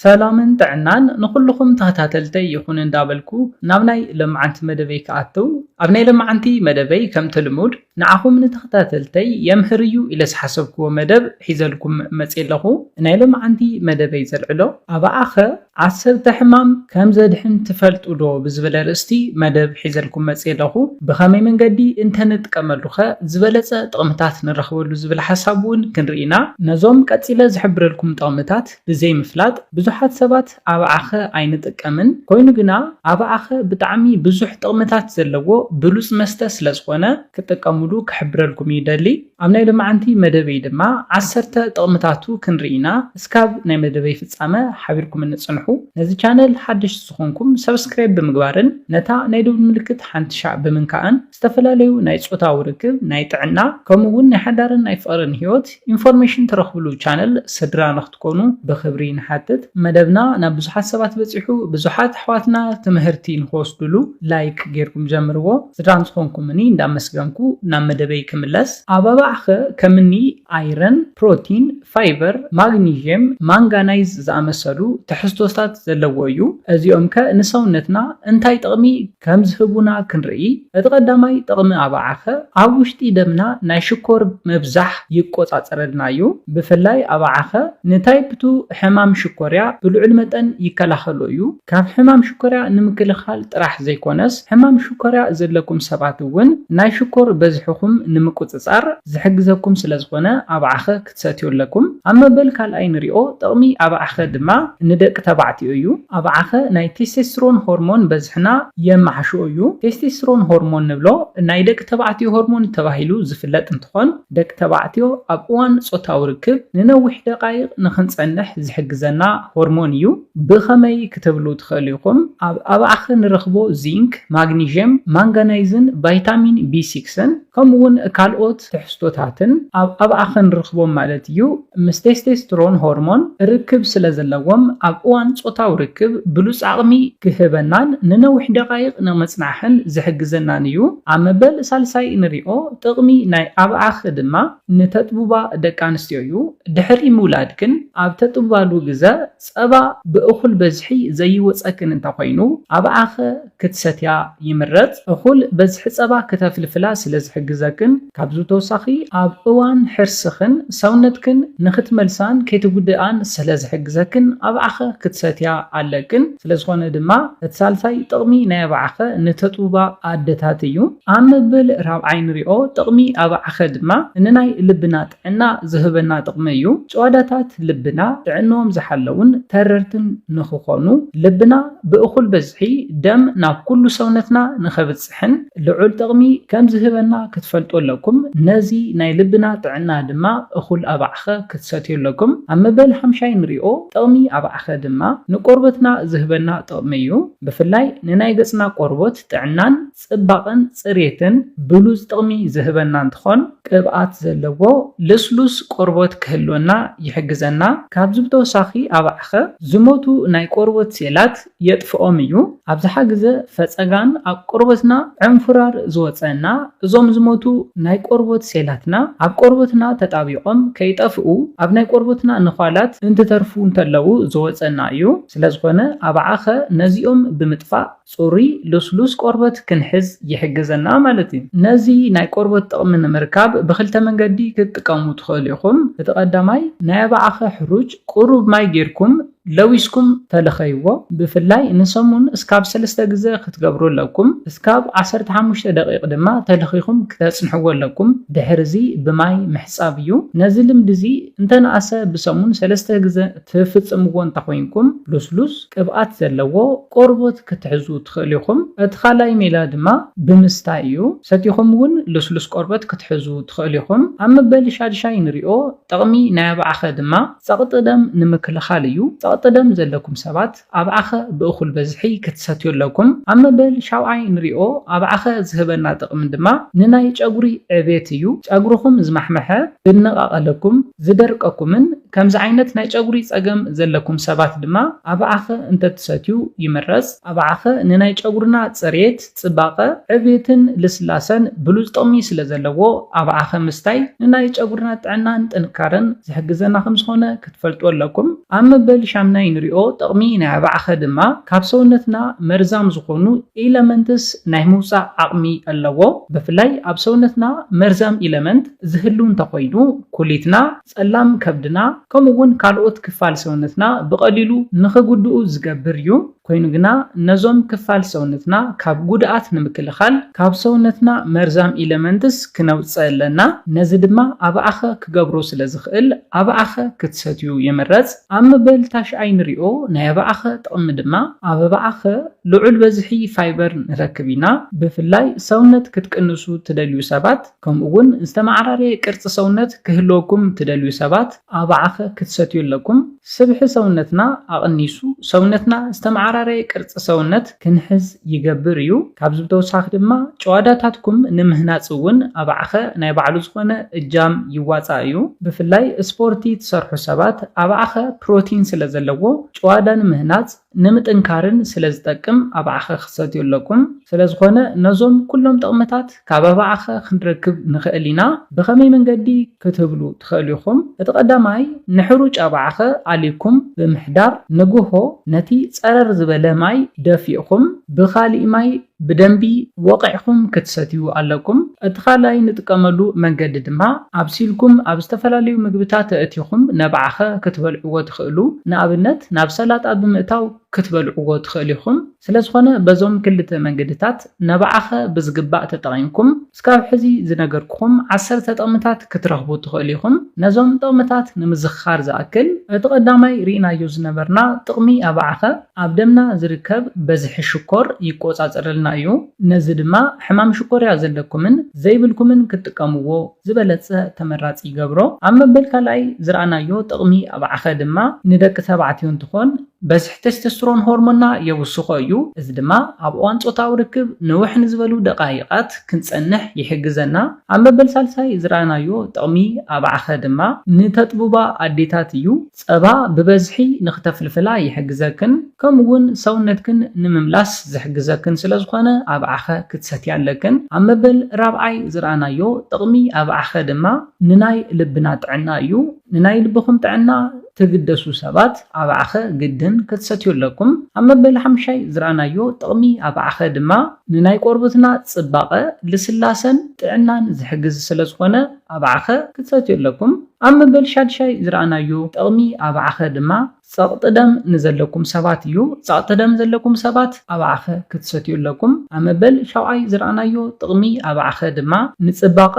ሰላምን ጥዕናን ንኹሉኹም ተኸታተልተይ ይኹን እንዳበልኩ ናብ ናይ ለማዓንቲ መደበይ ክኣትው ኣብ ናይ ለማዓንቲ መደበይ ከምቲ ልሙድ ንዓኹም ንተኸታተልተይ የምህር እዩ ኢለ ዝሓሰብክዎ መደብ ሒዘልኩም መጽየ ኣለኹ ናይ ለማዓንቲ መደበይ ዘልዕሎ ኣባኣኸ ዓሰብተ ሕማም ከም ዘድሕን ትፈልጡ ዶ ብዝብል ኣርእስቲ መደብ ሒዘልኩም መጽየ ኣለኹ ብኸመይ መንገዲ እንተንጥቀመሉኸ ዝበለጸ ጥቕምታት ንረኽበሉ ዝብል ሓሳብ ውን ክንርኢ ኢና ነዞም ቀጺለ ዝሕብረልኩም ጥቕምታት ምኽንያት ብዘይ ምፍላጥ ብዙሓት ሰባት ኣባዓኸ ኣይንጥቀምን ኮይኑ ግና ኣባዓኸ ብጣዕሚ ብዙሕ ጥቕምታት ዘለዎ ብሉጽ መስተ ስለ ዝኾነ ክትጥቀምሉ ክሕብረልኩም ይደሊ ኣብ ናይ ሎማዓንቲ መደበይ ድማ ዓሰርተ ጥቕምታቱ ክንርኢ ኢና እስካብ ናይ መደበይ ፍጻመ ሓቢርኩምኒ ጽንሑ ነዚ ቻነል ሓደሽቲ ዝኾንኩም ሰብስክራይብ ብምግባርን ነታ ናይ ደውል ምልክት ሓንትሻዕ ብምንካእን ዝተፈላለዩ ናይ ጾታዊ ርክብ፣ ናይ ጥዕና፣ ከምኡ ውን ናይ ሓዳርን ናይ ፍቕርን ህይወት ኢንፎርሜሽን ትረኽብሉ ቻነል ስድራ ንኽትኮኑ ብኽብሪ ንሓትት። መደብና ናብ ብዙሓት ሰባት በጺሑ ብዙሓት ኣሕዋትና ትምህርቲ ንኽወስድሉ ላይክ ጌርኩም ጀምርዎ። ስድራ ምስ ኾንኩምኒ እንዳመስገንኩ ናብ መደበይ ክምለስ። ኣባባዕኸ ከምኒ ኣይረን፣ ፕሮቲን፣ ፋይበር፣ ማግኒዥየም፣ ማንጋናይዝ ዝኣመሰሉ ትሕዝቶታት ዘለዎ እዩ። እዚኦምከ ንሰውነትና እንታይ ጥቕሚ? ከም ዝህቡና ክንርኢ። እቲ ቀዳማይ ጥቕሚ ኣባዓኸ ኣብ ውሽጢ ደምና ናይ ሽኮር ምብዛሕ ይቆጻጸረልና እዩ። ብፍላይ ኣባዓኸ ንታይፕ ቱ ሕማም ሽኮርያ ብልዑል መጠን ይከላኸሎ እዩ። ካብ ሕማም ሽኮርያ ንምክልኻል ጥራሕ ዘይኮነስ ሕማም ሽኮርያ ዘለኩም ሰባት እውን ናይ ሽኮር በዝሕኹም ንምቁጽጻር ዝሕግዘኩም ስለዝኾነ ኣባዓኸ ክትሰትዮ ኣለኩም ኣብ መበል ካልኣይ ንሪኦ ጥቅሚ ኣብዓኸ ድማ ንደቂ ተባዕትዮ እዩ ኣብዓኸ ናይ ቴስቴስትሮን ሆርሞን በዝሕና የማሕሽኦ እዩ ቴስቴስትሮን ሆርሞን ንብሎ ናይ ደቂ ተባዕትዮ ሆርሞን ተባሂሉ ዝፍለጥ እንትኾን ደቂ ተባዕትዮ ኣብ እዋን ፆታዊ ርክብ ንነዊሕ ደቃይቅ ንክንፀንሕ ዝሕግዘና ሆርሞን እዩ ብኸመይ ክትብሉ ትኸእሉ ኢኹም ኣብ ኣብዓኸ ንረኽቦ ዚንክ ማግኒዥየም ማንጋናይዝን ቫይታሚን ቢ ሲክስን ከምኡ ውን ካልኦት ትሕዝቶታትን ኣብ ኣብዓ ክንርኽቦም ማለት እዩ ምስ ቴስቴስትሮን ሆርሞን ርክብ ስለዘለዎም ኣብ እዋን ጾታዊ ርክብ ብሉጽ ዓቕሚ ክህበናን ንነዊሕ ደቓይቕ ንመጽናሕን ዝሕግዘናን እዩ። ኣብ መበል ሳልሳይ እንሪኦ ጥቕሚ ናይ ኣብዓኽ ድማ ንተጥቡባ ደቂ ኣንስትዮ እዩ። ድሕሪ ምውላድ ግን ኣብ ተጥቡባሉ ግዘ ጸባ ብእኹል በዝሒ ዘይወጸክን እንተኾይኑ ኣብዓኸ ክትሰትያ ይምረጽ። እኹል በዝሒ ጸባ ክተፍልፍላ ስለ ዝሕግዘክን ካብዚ ብተወሳኺ ኣብ እዋን ሕርስኽን ሰውነትክን ንኽትመልሳን ከይትጉድኣን ስለ ዝሕግዘክን ኣብዓኸ ክትሰትያ ኣለክን። ስለ ዝኾነ ድማ እቲ ሳልሳይ ጥቕሚ ናይ ኣብዓኸ ንተጥቡባ ኣደታት እዩ። ኣብ መበል ራብዓይ ንሪኦ ጥቕሚ ኣብዓኸ ድማ ንናይ ልብና ጥዕና ዝህበና ጥቕሚ እዩ። ጭዋዳታት ልብና ጥዕንኦም ዝሓለዉን ተረርትን ንኽኾኑ፣ ልብና ብእኹል ብዝሒ ደም ናብ ኩሉ ሰውነትና ንኸብጽሕን ልዑል ጥቕሚ ከም ዝህበና ክትፈልጡ ኣለኩም። ነዚ ናይ ልብና ጥዕና ድማ እኹል ኣባዕኸ ክትሰትዩ ኣለኩም። ኣብ መበል ሓምሻይ ንሪኦ ጥቕሚ ኣባዕኸ ድማ ንቆርበትና ዝህበና ጥቕሚ እዩ። ብፍላይ ንናይ ገጽና ቆርቦት ጥዕናን ጽባቐን ጽሬትን ብሉጽ ጥቕሚ ዝህበና እንትኾን ቅብኣት ዘለዎ ልስሉስ ቆርቦት ክህልወና ይሕግዘና። ካብዚ ብተወሳኺ ኣብዓኸ ዝሞቱ ናይ ቆርቦት ሴላት የጥፍኦም እዩ። ኣብዝሓ ግዘ ፈፀጋን ኣብ ቆርቦትና ዕንፉራር ዝወፀእና እዞም ዝሞቱ ናይ ቆርቦት ሴላትና ኣብ ቆርቦትና ተጣቢቖም ከይጠፍኡ ኣብ ናይ ቆርቦትና ነዃላት እንትተርፉ እንተለዉ ዝወፀእና እዩ። ስለዝኾነ ኣብዓኸ ነዚኦም ብምጥፋእ ጽሩይ ልስሉስ ቆርበት ክንሕዝ ይሕግዘና ማለት እዩ። ነዚ ናይ ቆርበት ጥቕሚ ንምርካብ ብኽልተ መንገዲ ክትጥቀሙ ትኽእሉ ኢኹም። እቲ ቀዳማይ ናይ ኣባዓኸ ሕሩጭ ቁሩብ ማይ ጌርኩም ለዊስኩም ተለኸይዎ። ብፍላይ ንሰሙን እስካብ ሰለስተ ግዘ ክትገብሩ ኣለኩም። እስካብ ዓሰርተ ሓሙሽተ ደቒቕ ድማ ተለኺኹም ክተጽንሕዎ ኣለኩም። ድሕሪ እዚ ብማይ ምሕጻብ እዩ። ነዚ ልምዲ እዚ እንተነኣሰ ብሰሙን ሰለስተ ግዘ። ትፍጽምዎ እንተኾይንኩም ልስሉስ ቅብኣት ዘለዎ ቆርቦት ክትሕዙ ትኽእሉ ኢኹም። እቲ ካልኣይ ሜላ ድማ ብምስታይ እዩ። ሰቲኹም እውን ልስሉስ ቆርበት ክትሕዙ ትኽእሉ ኢኹም። ኣብ መበል ሻድሻይ ንሪኦ ጥቕሚ ናይ ኣብዓኸ ድማ ጸቕጢ ደም ንምክልኻል እዩ። ጸቕጢ ደም ዘለኩም ሰባት ኣብዓኸ ብእኹል በዝሒ ክትሰትዮ ኣለኩም ኣብ መበል ሻውዓይ ንሪኦ ኣብዓኸ ዝህበና ጥቅሚ ድማ ንናይ ጨጉሪ ዕቤት እዩ ጨጉርኹም ዝማሕመሐ ዝነቃቀለኩም ዝደርቀኩምን ከምዚ ዓይነት ናይ ጨጉሪ ፀገም ዘለኩም ሰባት ድማ ኣብዓኸ እንተትሰትዩ ይምረፅ ኣብዓኸ ንናይ ጨጉርና ፅሬት ጽባቐ፣ ዕብየትን ልስላሰን ብሉጽ ጥቕሚ ስለዘለዎ ኣባዓኸ ምስታይ ንናይ ጨጉርና ጥዕናን ጥንካረን ዝሕግዘና ከምዝኾነ ክትፈልጡ ኣለኩም። ኣብ መበል ሻምናይ ንሪኦ ጥቕሚ ናይ ኣባዓኸ ድማ ካብ ሰውነትና መርዛም ዝኾኑ ኢለመንትስ ናይ ምውጻእ ዓቕሚ ኣለዎ። ብፍላይ ኣብ ሰውነትና መርዛም ኢለመንት ዝህሉ እንተኾይኑ ኩሊትና፣ ጸላም ከብድና ከምኡ'ውን ካልኦት ክፋል ሰውነትና ብቐሊሉ ንኽጉድኡ ዝገብር እዩ። ኮይኑ ግና ነዞም ክፋል ሰውነትና ካብ ጉድኣት ንምክልኻል ካብ ሰውነትና መርዛም ኢለመንትስ ክነውጽእ ኣለና። ነዚ ድማ ኣባዓኸ ክገብሮ ስለ ዝኽእል ኣባዓኸ ክትሰትዩ ይምረጽ። ኣብ መበል ታሽዓይ ንሪኦ ናይ ኣባዓኸ ጥቕሚ ድማ ኣብ ኣባዓኸ ልዑል በዝሒ ፋይበር ንረክብ ኢና። ብፍላይ ሰውነት ክትቅንሱ ትደልዩ ሰባት፣ ከምኡ'ውን ዝተመዓራረየ ቅርጺ ሰውነት ክህልወኩም ትደልዩ ሰባት ኣባዓኸ ክትሰትዩ ኣለኩም። ስብሒ ሰውነትና ኣቕኒሱ ሰውነትና ዝተመዓራረየ ቅርጺ ሰውነት ክንሕዝ ይገብር እዩ። ካብዚ ብተወሳኺ ድማ ጭዋዳታትኩም ንምህናጽ እውን ኣባዓኸ ናይ ባዕሉ ዝኾነ እጃም ይዋጻእ እዩ። ብፍላይ ስፖርቲ ትሰርሑ ሰባት ኣባዓኸ ፕሮቲን ስለዘለዎ ጭዋዳ ንምህናጽ፣ ንምጥንካርን ስለ ዝጠቅም ኣባዕኸ ክትሰትዩ ኣለኩም። ስለዝኾነ ነዞም ኩሎም ጥቕምታት ካብ ኣባዕኸ ክንረክብ ንኽእል ኢና። ብኸመይ መንገዲ ክትብሉ ትኸእሉ ኢኹም። እቲ ቀዳማይ ንሕሩጭ ኣባዕኸ ኣሊኩም ብምሕዳር ንግሆ ነቲ ጸረር ዝበለ ማይ ደፊእኹም ብኻሊእ ማይ ብደንቢ ወቒዕኹም ክትሰትዩ ኣለኩም። እቲ ካልኣይ ንጥቀመሉ መንገዲ ድማ ኣብሲልኩም ኣብ ዝተፈላለዩ ምግብታት ኣእቲኹም ነብዓኸ ክትበልዕዎ ትኽእሉ። ንኣብነት ናብ ሰላጣ ብምእታው ክትበልዕዎ ትኽእሉ ኢኹም። ስለዝኾነ በዞም ክልተ መንገድታት ነብዓኸ ብዝግባእ ተጠቒምኩም እስካብ ሕዚ ዝነገርኩኹም ዓሰርተ ጥቕምታት ክትረኽቡ ትኽእሉ ኢኹም። ነዞም ጥቕምታት ንምዝኽኻር ዝኣክል፣ እቲ ቀዳማይ ሪኢናዮ ዝነበርና ጥቕሚ ኣባዕኸ፣ ኣብ ደምና ዝርከብ በዝሒ ሽኮር ይቆጻጸረልና እዩ። ነዚ ድማ ሕማም ሽኮርያ ዘለኩምን ዘይብልኩምን ክትጥቀምዎ ዝበለጸ ተመራጺ ይገብሮ። ኣብ መበል ካልኣይ ዝረኣናዮ ጥቕሚ ኣባዕኸ ድማ ንደቂ ተባዕትዮ እንትኾን፣ በዝሒ ቴስቶስትሮን ሆርሞንና የውስኾ እዩ፣ እዚ ድማ ኣብ እዋን ጾታዊ ርክብ ንውሕ ንዝበሉ ደቓይቓት ክንጸንሕ ይሕግዘና። ኣብ መበል ሳልሳይ ዝረኣናዮ ጥቕሚ ኣብ ዓኸ ድማ ንተጥብባ ኣዴታት እዩ። ጸባ ብበዝሒ ንኽተፍልፍላ ይሕግዘክን ከምኡ'ውን ሰውነትክን ንምምላስ ዝሕግዘክን ስለዝኾነ ኣብ ዓኸ ክትሰትያ ኣለክን። ኣብ መበል ራብዓይ ዝረኣናዮ ጥቕሚ ኣብ ዓኸ ድማ ንናይ ልብና ጥዕና እዩ። ንናይ ልብኹም ጥዕና ትግደሱ ሰባት ኣባዕኸ ግድን ክትሰትዩ ኣለኩም። ኣብ መበል ሓምሻይ ዝረኣናዮ ጥቕሚ ኣባዕኸ ድማ ንናይ ቆርብትና ጽባቐ፣ ልስላሰን ጥዕናን ዝሕግዝ ስለዝኾነ ኣባዕኸ ክትሰትዩ ኣለኩም። ኣብ መበል ሻድሻይ ዝረኣናዮ ጥቕሚ ኣባዕኸ ድማ ጸቕጢ ደም ንዘለኩም ሰባት እዩ። ጸቕጢ ደም ዘለኩም ሰባት ኣባዕኸ ክትሰትዩ ኣለኩም። ኣብ መበል ሻውዓይ ዝረኣናዮ ጥቕሚ ኣባዕኸ ድማ ንጽባቐ፣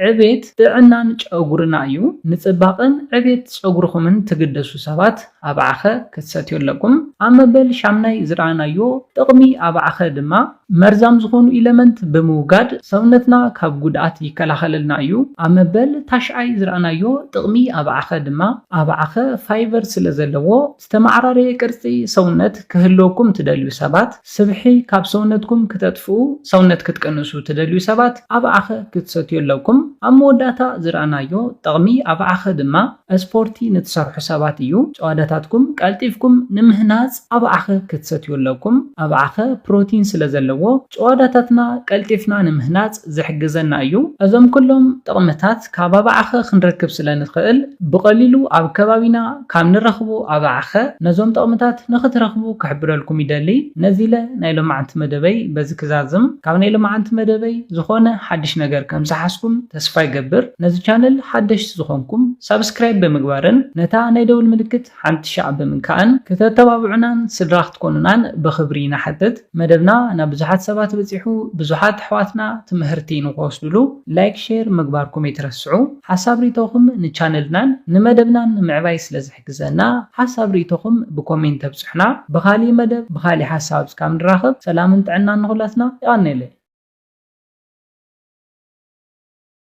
ዕቤት ጥዕናን ጨጉርን ኣዩ ንጽባቀን ዕቤት ጸጉርኹምን ትግደሱ ሰባት ኣባዕኸ ክትሰትዮ ኣለኩም ኣብ መበል ሻምናይ ዝረኣናዮ ጥቅሚ ኣባዕኸ ድማ መርዛም ዝኾኑ ኢለመንት ብምውጋድ ሰውነትና ካብ ጉድኣት ይከላኸለልና እዩ ኣብ መበል ታሽዓይ ዝረኣናዮ ጥቅሚ ኣባዕኸ ድማ ኣባዕኸ ፋይቨር ስለዘለዎ ዝተመዓራረየ ቅርጺ ሰውነት ክህልወኩም ትደልዩ ሰባት፣ ስብሒ ካብ ሰውነትኩም ክተጥፍኡ፣ ሰውነት ክትቅንሱ ትደልዩ ሰባት ኣባዓኸ ክትሰትዩ ኣለኩም። ኣብ መወዳእታ ዝረኣናዮ ጠቕሚ ኣባዓኸ ድማ እስፖርቲ ንትሰርሑ ሰባት እዩ። ጭዋዳታትኩም ቀልጢፍኩም ንምህናጽ ኣባዓኸ ክትሰትዩ ኣለኩም። ኣባዓኸ ፕሮቲን ስለዘለዎ፣ ጭዋዳታትና ቀልጢፍና ንምህናጽ ዝሕግዘና እዩ። እዞም ኩሎም ጥቕምታት ካብ ኣባዕኸ ክንረክብ ስለ ንኽእል፣ ብቐሊሉ ኣብ ከባቢና ካብ ንረኽቦ ኣባዕኸ ነዞም ጥቕምታት ንኽትረኽቡ ክሕብረልኩም ይደሊ። ነዚለ ናይ ሎማዕንቲ መደበይ በዚ ክዛዝም። ካብ ናይ ሎማዕንቲ መደበይ ዝኾነ ሓድሽ ነገር ከም ዝሓዝኩም ተስፋ ይገብር። ነዚ ቻነል ሓደሽቲ ዝኾንኩም ሳብስክራይብ ብምግባርን ነታ ናይ ደውል ምልክት ሓንቲ ሻዕ ብምንካእን ክተተባብዑናን ስድራ ክትኮኑናን ብኽብሪ ንሓትት። መደብና ናብ ብዙሓት ሰባት በጺሑ ብዙሓት ኣሕዋትና ትምሀርቲ ንክወስድሉ ላይክ ሼር ምግባርኩም ኣይትረስዑ። ሓሳብ ሪኢቶኹም ንቻነልናን ንመደብናን ንምዕባይ ስለ ዝሕግዘና ሓሳብ ሪኢቶኹም ብኮሜንት ኣብጹሑና። ብኻሊእ መደብ ብኻሊእ ሓሳብ እስካብ ንራኸብ ሰላምን ጥዕናን ንኹላትና። የቀኔለይ።